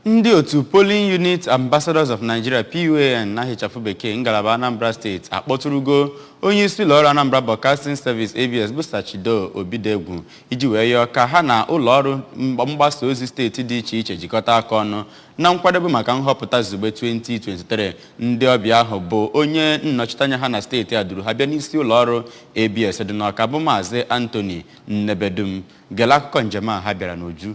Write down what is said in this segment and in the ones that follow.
Ndị otu Polling Unit Ambassadors of Nigeria PUAN n'aha ịchafụ bekee ngalaba Anambra steeti akpọtụrụgo onye isi ụlọọrụ Anambra Broadcasting Service ABS bụ Sir Chido Obidiegwu iji wee yọọ ka ha na ụlọọrụ mgbasa ozi steeti dị iche iche jikọta aka ọnụ na nkwadebe maka nhọpụta izugbe 2023 ndị ọbịa ahụ bụ onye nnọchiteanya ha na steeti a duru ha bịa n'isi ụlọọrụ ABS dị n'Ọka bụ Maazị Anthony Nnebedum gere akụkọ njem a ha bịara n'uju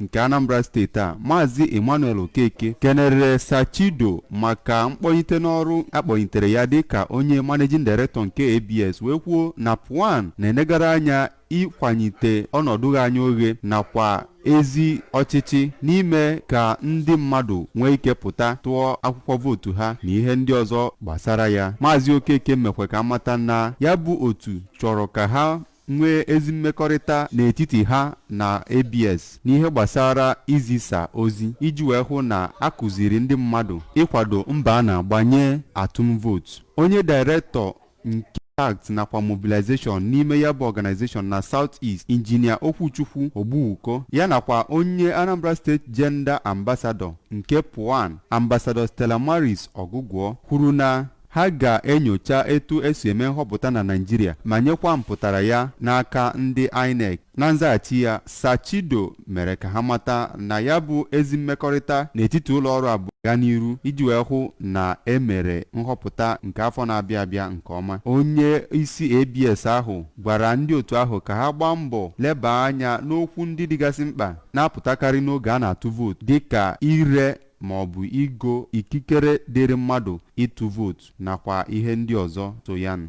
nke Anambra steeti a maazị Emmanuel Okeke kenere Sir Chido maka mkpọnyite n'ọrụ a kpọnyitere ya dịka onye managing director nke ABS wee kwuo na PUAN na-enegara anya ịkwanyite ọnọdụ ighe anya oghe nakwa ezi ọchịchị n'ime ka ndị mmadụ nwee ike pụta tụọ akwụkwọ vootu ha na ihe ndị ọzọ gbasara ya maazị okeke mekwa ka a mata na ya bụ otu chọrọ ka ha nwee ezi mmekọrịta n'etiti ha na ABS n'ihe gbasara izisa ozi iji wee hụ na a kụziri ndị mmadụ ịkwado mbọ a na-agba nye atụm vootu. Onye Director Contact nakwa Mobilization n'ime ya bụ organization na South East, Injinia Okwuchukwu Ogbuwuko ya nakwa onye Anambra State Gender Ambassador nke PUAN, Ambassador Stella Maris Ọgụgụọ kwuru na Ha ga-enyocha etu esi eme nhọpụta na Naịjirịa ma nyekwa mpụtara ya n'aka ndị INEC. Na nzaghachi ya, Sir Chido mere ka ha mata na ya bụ ezi mmekọrịta n'etiti ụlọọrụ abụọ ga n'iru iji wee hụ na e mere nhọpụta nke afọ na-abịa abịa nke ọma. Onye isi ABS ahụ gwara ndị otu ahụ ka ha gbaa mbọ lebaa anya n'okwu ndị dịgasị mkpa na-apụtakarị n'oge a na-atụ vootu dịka ire ma ọ bụ igo ikikere dịịrị mmadụ ịtụ vootu nakwa ihe ndị ọzọ so ya nụ.